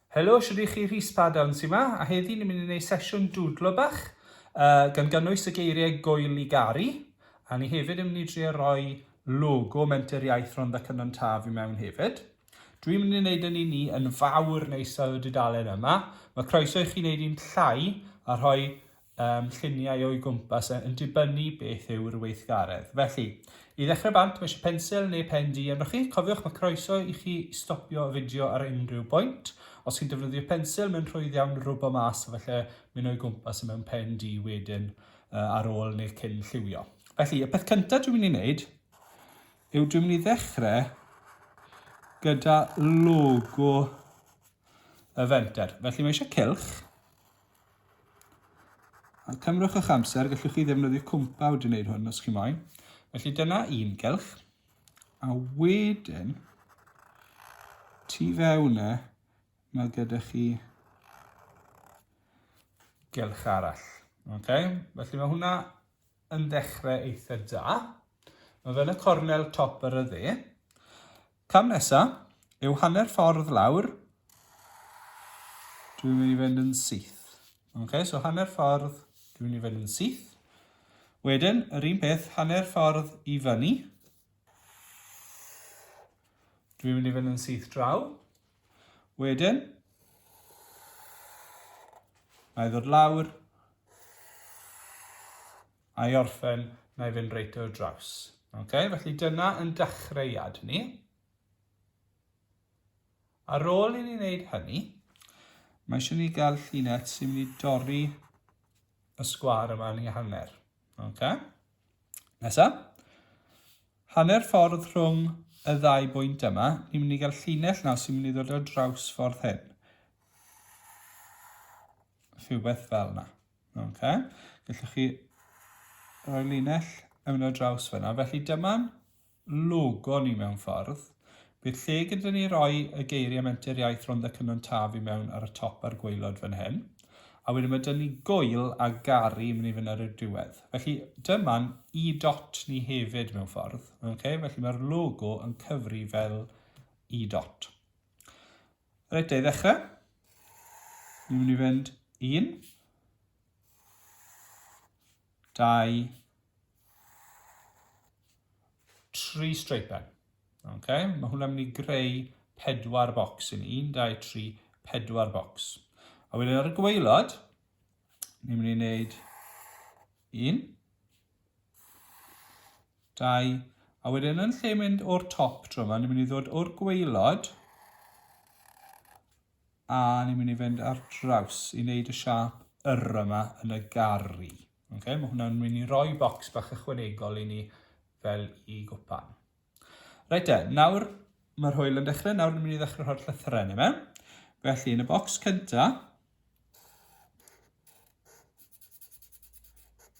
Helo, shwd i chi Rhys Padown sy'n ma, a heddi ni'n mynd i wneud sesiwn dwdlo bach, uh, gan gynnwys y geiriau goel i garu, a ni hefyd yn mynd i drio roi logo Menter Iaith Rhondda Cynon Taf i mewn hefyd. Dwi'n mynd i wneud yn un ni yn fawr neisau y dudalen yma. Mae croeso i chi wneud un llai a rhoi ym lluniau o'i gwmpas yn dibynnu beth yw'r weithgaredd. Felly, i ddechrau bant, mae eisiau pensil neu pen du arnoch chi. Cofiwch, mae croeso i chi stopio y fideo ar unrhyw bwynt. Os chi'n defnyddio pensil, mae'n rhwydd iawn rwbo mas a falle mynd o'i gwmpas y mewn pen du wedyn ar ôl neu cyn lliwio. Felly, y peth cyntaf dwi'n mynd i wneud yw dwi'n mynd i ddechrau gyda logo y fenter. Felly mae eisiau cilch, Ond cymrwch eich amser, gallwch chi ddefnyddio cwmpawd i wneud hwn os chi moyn. Felly dyna un gylch. A wedyn, tu fewn e, mae gyda chi gylch arall. Okay? Felly mae hwnna yn dechrau eitha da. Mae fel y cornel top ar y dde. Cam nesa yw hanner ffordd lawr. Dwi'n mynd i fynd yn syth. Okay, so hanner ffordd, dwi'n mynd i fynd yn syth. Wedyn, yr un peth, hanner ffordd i fyny. Dwi'n mynd i fynd yn syth draw. Wedyn, mae ddod lawr. a i orffen, na i fynd reit o'r draws. Okay? Felly dyna yn dechreuad ni. Ar ôl i ni wneud hynny, mae eisiau ni gael llunet sy'n mynd i dorri y sgwar yma yn ei hanner. Okay? Nesa. Hanner ffordd rhwng y ddau bwynt yma, ni'n mynd i gael llinell nawr sy'n mynd i ddod o draws ffordd hyn. Rhywbeth fel yna. Okay. Gallwch chi roi linell yn mynd ar draws fyna. Felly dyma'n logo ni mewn ffordd. Bydd lle gyda ni roi y geiriau menter iaith Rhondda Cynon Taf i mewn ar y top a'r gweilod fan hyn. A wedyn mae dyn ni gwyl a gari yn mynd i fynd ar y diwedd. Felly dyma'n i dot ni hefyd mewn ffordd. Okay? Felly mae'r logo yn cyfri fel i dot. Reit, da i ddechrau. Ni'n mynd i fynd un, dau, tri streipen. Okay? Mae hwnna'n mynd i greu pedwar bocs i ni. 1, 2, 3, pedwar bocs. A wedyn ar y gweilod, ni'n mynd i wneud un, Dau. A wedyn yn lle mynd o'r top tro yma, ni'n mynd i ddod o'r gweilod a ni'n mynd i fynd ar draws i wneud y siap yr yma yn y garri. Okay, mae hwnna'n mynd i roi bocs bach ychwanegol i ni fel i gwpan. Reit de, nawr mae'r hwyl yn dechrau, nawr ni'n mynd i ddechrau rhoi'r llythyrau yn yma. Felly, yn y bocs cynta,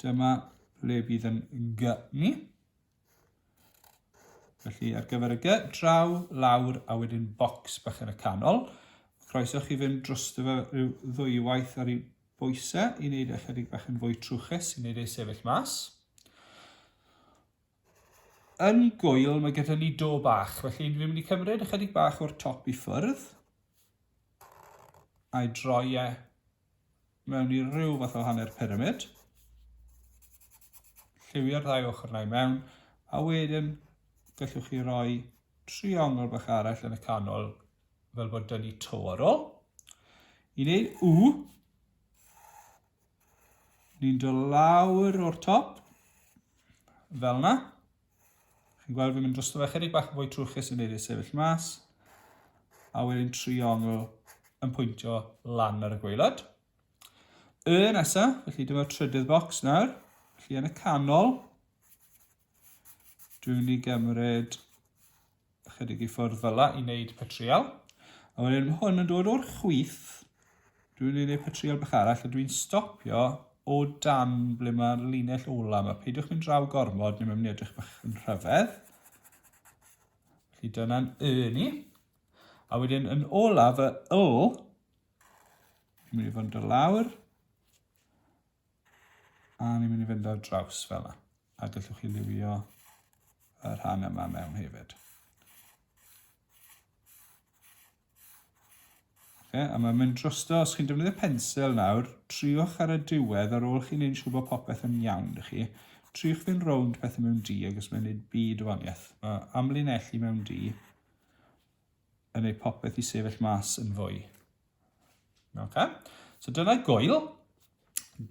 dyma le bydd yn gy ni. Felly, ar gyfer y gy, draw, lawr, a wedyn bocs bach yn y canol. Croeso chi fynd dros dy fe rhyw ddwywaith ar ei bwysau i wneud e chydig bach yn fwy trwchus, i wneud ei sefyll mas. Yn gŵyl mae gyda ni do bach, felly dwi'n mynd i cymryd ychydig bach o'r top i ffwrdd. A'i droi e mewn i ryw fath o hanner pyramid. Lliwio'r ddau ochr na i mewn, a wedyn gallwch chi roi triongl bach arall yn y canol, fel bod dyn ni to ar ôl. I wneud w, Ni'n dod lawr o'r top. Fel na. Chi'n gweld fi'n mynd dros fe chydig bach yn fwy trwchus yn neud ei sefyll mas. A wedyn triongl yn pwyntio lan ar y gweilod. Y nesaf, felly dyma'r trydydd bocs nawr. Felly yn y canol, Dwi'n mynd i gymryd ychydig i ffwrdd fyla i wneud petrial. A wedyn mae hwn yn dod o'r chwith. Dwi'n mynd i wneud petrial bach arall a dwi'n stopio o dan ble mae'r linell ola yma. Peidiwch mynd draw gormod neu mae'n mynd i edrych bach yn rhyfedd. Felly dyna'n y ni. A wedyn yn ola fy yl, dwi'n mynd i fod yn dod lawr. A ni'n mynd i fynd ar draws fel yna. A gallwch chi liwio y rhan yma mewn hefyd. Okay, a mae'n mynd drosto, os chi'n defnyddio pensil nawr, triwch ar y diwedd ar ôl chi'n neud siŵr bod popeth yn iawn i chi. Triwch fynd rownd pethau mewn di ac os mae'n neud byd o waniaeth. Mae amlinellu mewn di yn ei popeth i sefyll mas yn fwy. Okay. So dyna gwyl.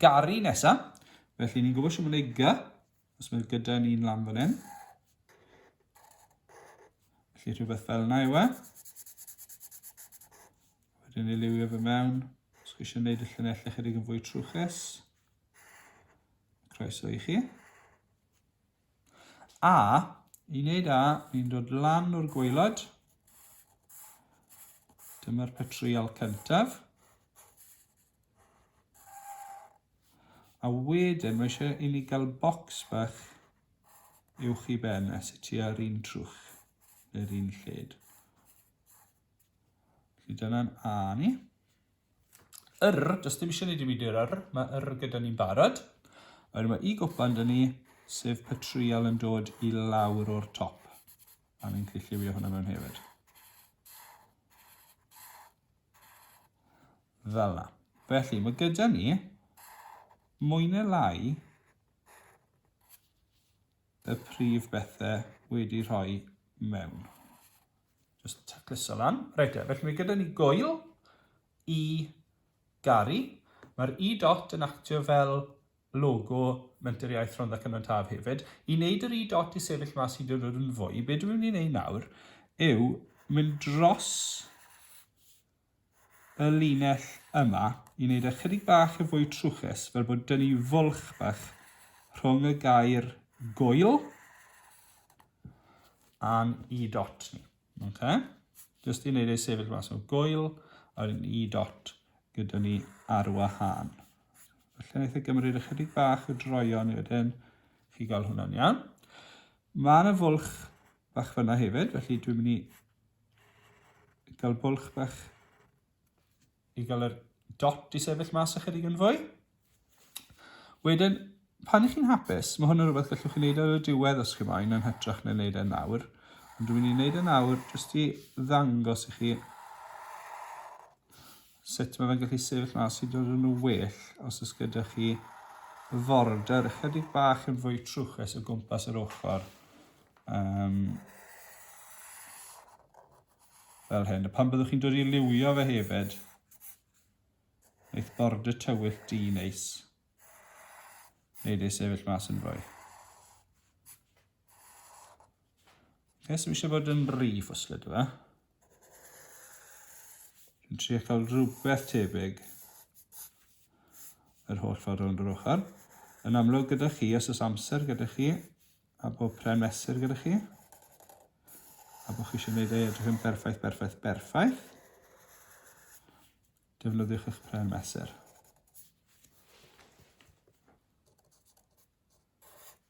Gari nesa. Felly ni'n gwybod sy'n mynd ei gy. Os mae gyda ni'n lan fan hyn. Felly rhywbeth fel yna yw e. Wedyn ni liwio fe mewn. Os chi eisiau gwneud y llunellau chydig yn fwy trwchus. Croeso i chi. A, i wneud A, ni'n dod lan o'r gwaelod. Dyma'r petryal cyntaf. A wedyn, mae eisiau i ni gael bocs bach uwch i ben a sut i ar un trwch neu'r un lled. Felly dyna'n A ni. yr, does dim eisiau ni ddim i di'r yr, mae yr gyda ni'n barod. A wedyn mae i gwpan dyn ni, sef patrial yn dod i lawr o'r top. A ni'n gallu lliwio hwnna mewn hefyd. Fel na. Felly, mae gyda ni mwy neu lai y prif bethau wedi rhoi mewn. Just tacluso lan. Reit e, felly mae gyda ni goel i garu. Mae'r i dot yn actio fel logo Menter Iaith Rhondda Cynon Taf hefyd. I wneud yr i dot i sefyll mas i dod yn fwy, be dwi'n mynd i wneud nawr yw mynd dros y linell yma i wneud e chydig bach yn fwy trwchus, fel bod dynnu fwlch bach rhwng y gair goel a'n i dot ni. Okay? Just i wneud ei sefyll mas o goel a'r i dot gyda ni ar wahân. Felly wnaeth e gymryd ychydig bach o droion i wedyn chi gael hwnna'n iawn. Mae yna fwlch bach fyna hefyd, felly dwi'n mynd i gael bwlch bach i gael yr dot i sefyll mas ychydig yn fwy. Wedyn, pan ych chi'n hapus, mae hwn yn rhywbeth gallwch chi wneud ar y diwedd os chi moyn yn hytrach na'n wneud e nawr. Ond dwi'n mynd i wneud e nawr jyst i ddangos i chi sut mae fe'n gallu sefyll mas i dod yn well os oes gyda chi forder ychydig bach yn fwy trwchus o gwmpas yr ochr Um, fel hyn. A pan byddwch chi'n dod i liwio fe hefyd, eith bord y tywyll di neis. Neud ei sefyll mas yn fwy. Nes so eisiau bod yn rhi ffwslyd yma. Dwi'n trio cael rhywbeth tebyg yr holl ffordd rownd yr ochr. Yn amlwg gyda chi, os oes amser gyda chi, A bod pren mesur gyda chi. A bod chi eisiau gwneud ei edrych yn berffaith, berffaith, berffaith. Defnyddiwch eich pren mesur.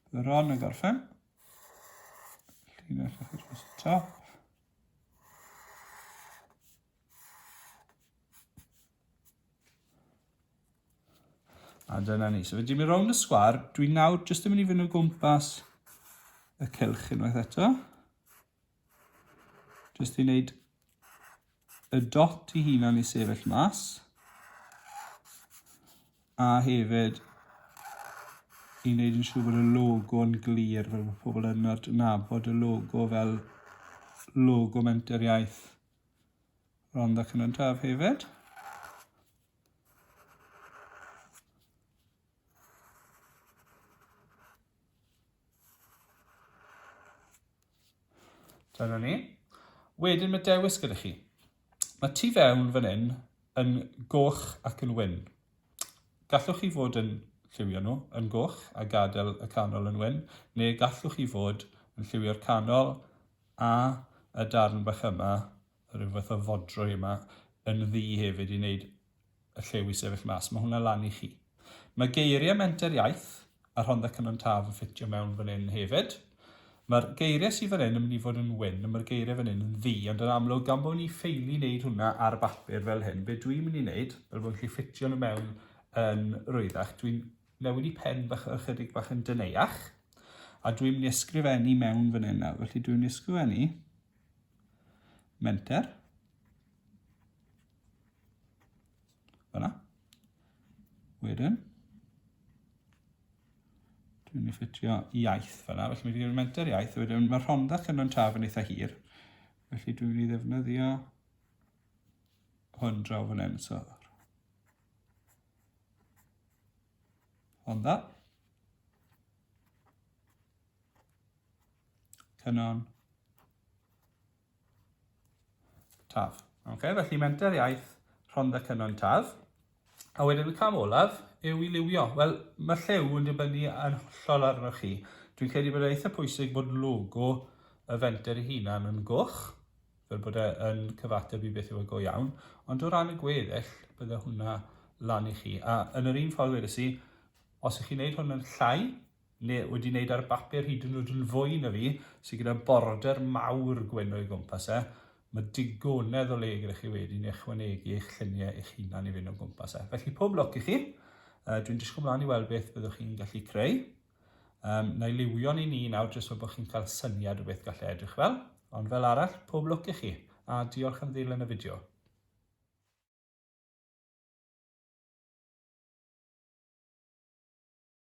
Bydd yr on yn gorffen. Llinell eich dros y top. A dyna ni. So fe dim i rownd y sgwar. Dwi'n nawr jyst yn mynd i fynd o gwmpas y cylch unwaith eto. Jyst i wneud y dot i hunan i sefyll mas. A hefyd i wneud yn siŵr bod y logo yn glir fel bod pobl yn adnabod y logo fel logo menteriaeth Rhondda Cynyddaf hefyd. Dyna ni. Wedyn mae dewis gyda chi. Mae tu fewn fan hyn yn goch ac yn wyn. Gallwch chi fod yn lliwio nhw yn goch a gadael y canol yn wyn, neu gallwch chi fod yn lliwio'r canol A y darn bach yma, rhyw fath o fodrwy yma, yn ddu hefyd i wneud y lliw i sefyll mas. Mae hwnna lan i chi. Mae geiriau Menter Iaith a Rhondda Cynon Taf yn ffitio mewn fan hyn hefyd. Mae'r geiriau sydd fan hyn yn mynd i fod yn wyn, a mae'r geiriau fan hyn yn ddu, ond yn amlwg, gan bod ni ffeili wneud hwnna ar bapur fel hyn, be dwi'n mynd i wneud, fel bod yn gallu ffitio nhw mewn yn rwyddach, dwi'n Newid i pen bach ychydig bach yn deneuach. A dwi'n mynd i ysgrifennu mewn fan hyn nawr. Felly dwi'n mynd i ysgrifennu menter. Fyna. Wedyn. Dwi'n mynd i ffitio iaith fyna. Felly mae wedi gwneud menter iaith. Wedyn mae rhondda cynnon taf yn eitha hir. Felly dwi'n mynd i ddefnyddio hwn draw fan hyn. So, Hwn dda. Cynon. Taf. Okay, felly menter iaith Rhondda Cynon Taf. A wedyn y cam olaf yw i liwio. Wel, mae llew yn dibynnu yn hollol arnoch chi. Dwi'n credu bod eitha pwysig bod logo y fenter ei hunan yn goch. fel bod e yn cyfateb i beth yw y go iawn, ond o ran y gweddill, bydde hwnna lan i chi. A yn yr un ffordd wedes i, os ych chi'n gwneud hwn yn llai, neu wedi wneud ar bapur hyd yn oed yn fwy na fi, sydd gyda border mawr gwenu o'i gwmpas e, mae digonedd o le gyda chi wedyn i ychwanegu eich lluniau eich hunan i fynd o gwmpas e. Felly pob lwc i chi, dwi'n disgwyl mlaen i weld beth byddwch chi'n gallu creu. Um, na i liwio ni ni nawr jyst fel bod chi'n cael syniad o beth gallai edrych fel. Ond fel arall, pob lwc i chi, a diolch am ddilyn y fideo.